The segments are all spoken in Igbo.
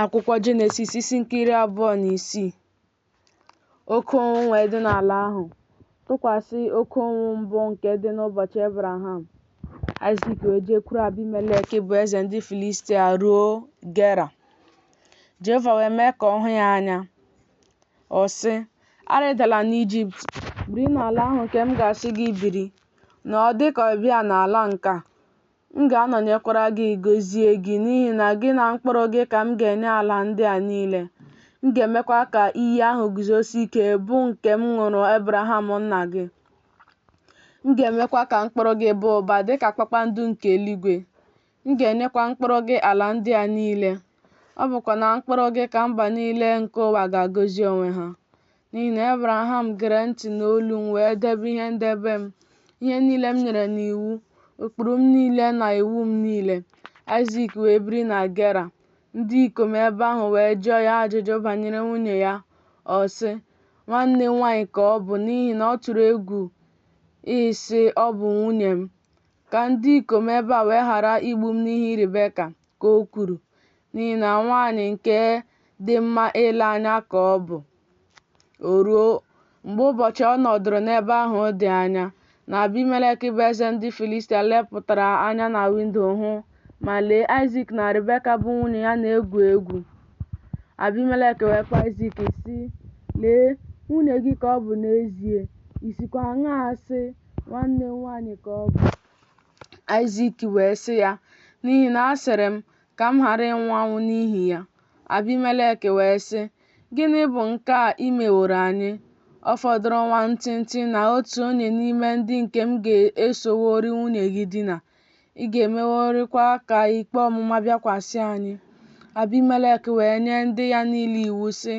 akwụkwọ jenesis isi nke iri abụọ na isii oke ụnwụ wee dị n'ala ahụ tụkwasị oke ụnwụ mbụ nke dị n'ụbọchị ebraham aịzik wee jekwuru abimelek bụ eze ndị filistia ruo gera jehova wee mee ka ọ hụ ya anya ọ sị arịdala n'ijipt biri n'ala ahụ nke m ga-asị gị biri nọọ dị ka ọbịa n'ala nke a M ga-anọnyekwara gị gọzie gị, n'ihi na gị na mkpụrụ gị ka m ga-enye ala ndị a niile. M ga-emekwa ka iyi ahụ guzosie ike, bụ nke m ṅụrụ Ebraham nna gị. M ga-emekwa ka mkpụrụ gị baa ụba dị ka kpakpando nke eluigwe. M ga-enyekwa mkpụrụ gị ala ndị a niile. Ọ bụkwa na mkpụrụ gị ka mba niile nke ụwa ga-agọzi onwe ha. N'ihi na Ebraham gere ntị n'olu m wee debe ihe ndebe m, ihe niile m nyere n'iwu, ụkpụrụ m niile na iwu m niile. Aịzik wee biri na Gera. Ndị ikom ebe ahụ wee jụọ ya ajụjụ banyere nwunye ya. Ọ sị, Nwanne m nwaanyị ka ọ bụ n'ihi na ọ tụrụ egwu ịsị ọ bụ nwunye m. Ka ndị ikom ebe a wee ghara igbu m n'ihi Ribeka, ka o kwuru. n'ihi na nwaanyị nke dị mma ile anya ka ọ bụ. O ruo, mgbe ụbọchị ọ nọdụrụ n'ebe ahụ dị anya, na Abimelek bụ eze ndị Filistia lepụtara anya na windo hụ, ma lee, Aịzik na Ribeka bụ nwunye ya na-egwu egwu. Abimelek wee kpọọ Aịzik, sị, Lee, nwunye gị ka ọ bụ n'ezie, i sikwa aṅaa sị, Nwanne m nwaanyị ka ọ bụ? Aịzik wee sị ya, N'ihi na asịrị m, ka m ghara ịnwụ anwụ n'ihi ya. Abimelek wee sị, Gịnị bụ nke a i meworo anyị? Ọ fọdụrụ nwa ntịntị na otu onye n'ime ndị nke m ga-esoworị nwunye gị dina, ị ga-emeworịkwa ka ikpe ọmụma bịakwasị anyị. Abimelek wee nye ndị ya niile iwu, sị,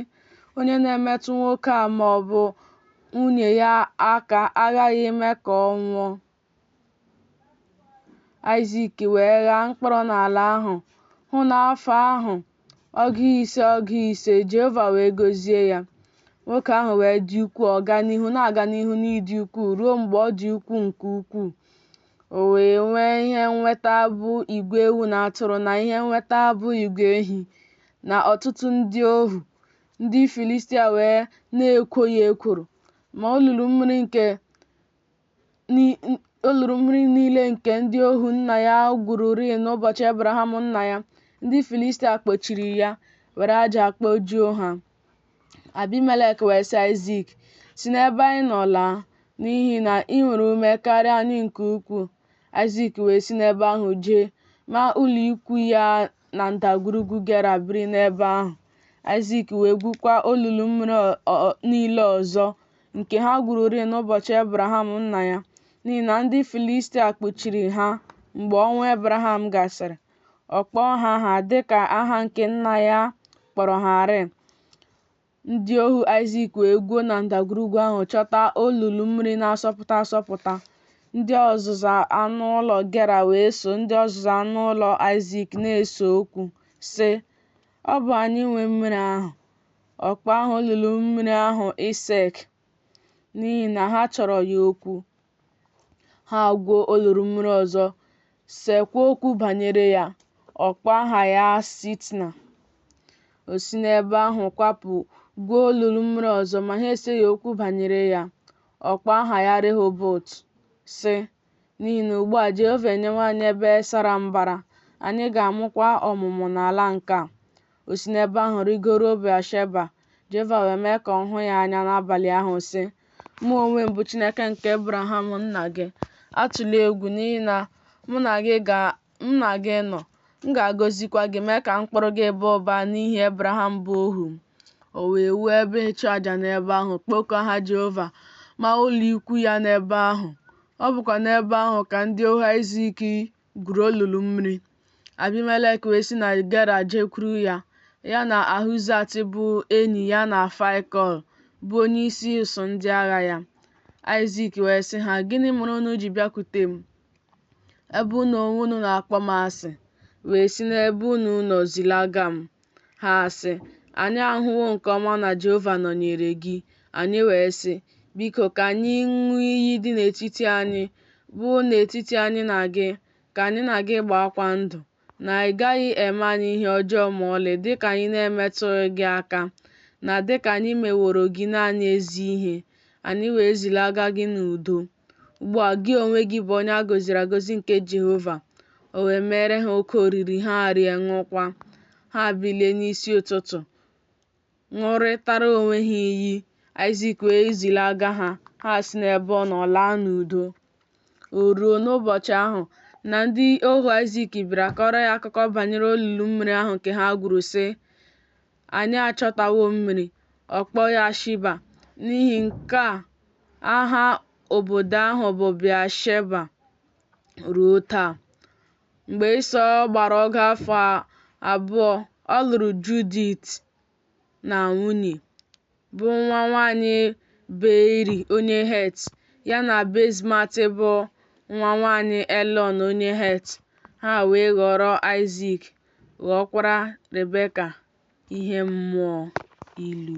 Onye na-emetụ nwoke a ma ọ bụ nwunye ya aka aghaghị ime ka ọ nwụọ. Aịzik wee ghaa mkpụrụ n'ala ahụ, hụ n'afọ ahụ ọgụ ise ọgụ ise, Jehova wee gọzie ya. Nwoke ahụ wee dị ukwuu, ọ gaa n'ihu na-aga n'ihu n'ịdị ukwuu ruo mgbe ọ dị ukwuu nke ukwuu. O wee nwee ihe nweta bụ igwe ewu na atụrụ na ihe nweta bụ igwe ehi na ọtụtụ ndị ohu. Ndị Filistia wee na-ekwo ya ekworo, ma olulu mmiri nke olulu mmiri niile nke ndị ohu nna ya gwururịị n'ụbọchị Ebraham nna ya, ndị Filistia kpochiri ya, were aja kpojuo ha. Abimelek wee sị Aịzik, Si n'ebe anyị nọ laa, n'ihi na ị nwere ume karịa anyị nke ukwuu. Aịzik wee si n'ebe ahụ jee, maa ụlọ ikwu ya na ndagwurugwu Gera biri n'ebe ahụ. Aịzik wee gwukwa olulu mmiri niile ọzọ nke ha gwururịị n'ụbọchị Ebraham nna ya n'ihi na ndị Filistia kpuchiri ha mgbe ọnwụ Ebraham gasịrị ọ kpọọ ha aha dịka aha nke nna ya kpọrọ ha rịị ndị ohu Aịzik wee gwuo na ndagwurugwu ahụ chọta olulu mmiri na-asọpụta asọpụta ndị ọzụzụ anụ ụlọ Gera wee so ndị ọzụzụ anụ ụlọ Aịzik na-ese okwu sị ọ bụ anyị nwe mmiri ahụ ọ kpọọ aha olulu mmiri ahụ Esek n'ihi na ha chọrọ ya okwu ha gwuo olulu mmiri ọzọ sekwa okwu banyere ya ọ kpọọ aha ya Sitna o si n'ebe ahụ kwapụ gwuo olulu mmiri ọzọ ma ha eseghị okwu banyere ya ọ kpọọ aha ya Rehobot sị N'ihi na ugbu a Jehova enyewo anyị ebe sara mbara, anyị ga-amụkwa ọmụmụ n'ala nke a. O si n'ebe ahụ rịgoruo Bịasheba, Jehova wee mee ka ọ hụ ya anya n'abalị ahụ, sị, Mụ onwe m bụ Chineke nke Ebraham nna gị. Atụla egwu, n'ihi na mụ na gị nọ. M ga-agọzikwa gị, mee ka mkpụrụ gị baa ụba n'ihi Ebraham bụ ohu m. O wee wuo ebe ịchụaja n'ebe ahụ, kpọkuo aha Jehova, maa ụlọikwu ya n'ebe ahụ. Ọ bụkwa n'ebe ahụ ka ndị ohu Aịzik gwuru olulu mmiri. Abimelek wee si na Gera jekwuru ya, ya na Ahuzat bụ enyi ya na Faịkọl bụ onyeisi usuu ndị agha ya. Aịzik wee sị ha, Gịnị mere unu ji bịakwute m? Ebe unu onwe unu na-akpọ m asị, wee si n'ebe unu nọ zilaga m. Ha sị, Anyị ahụwo nke ọma na Jehova nọnyere gị. Anyị wee sị, Biko, ka anyị ṅụọ iyi dị n'etiti anyị, bụ n'etiti anyị na gị, ka anyị na gị gbaakwa ndụ, na ị gaghị eme anyị ihe ọjọọ ma ọlị dị ka anyị na-emetụghị gị aka, na dị ka anyị meworo gị naanị ezi ihe, anyị wee zilaga gị n'udo. Ugbu a gị onwe gị bụ onye a gọziri agọzi nke Jehova. O wee meere ha oke oriri, ha rie ṅụọkwa. Ha bilie n'isi ụtụtụ, ṅụrịtara onwe ha iyi, Aịzik wee zilaga ha, ha si n'ebe ọ nọ laa n'udo. O ruo n'ụbọchị ahụ na ndị ohu Aịzik bịara kọrọ ya akụkọ banyere olulu mmiri ahụ nke ha gwuru, sị, Anyị achọtawo mmiri. Ọ kpọọ ya Shiba. N'ihi nke a, aha obodo ahụ bụ Bịasheba ruo taa. Mgbe Ịsọ gbara ọgụ afọ abụọ, ọ lụrụ Judit na nwunye. bụ nwa nwaanyị Beiri onye Het, ya na Basemat bụ nwa nwaanyị Elọn onye Het, ha wee ghọrọ Aịzik, ghọọkwara Rebeka ihe mmụọ ilu.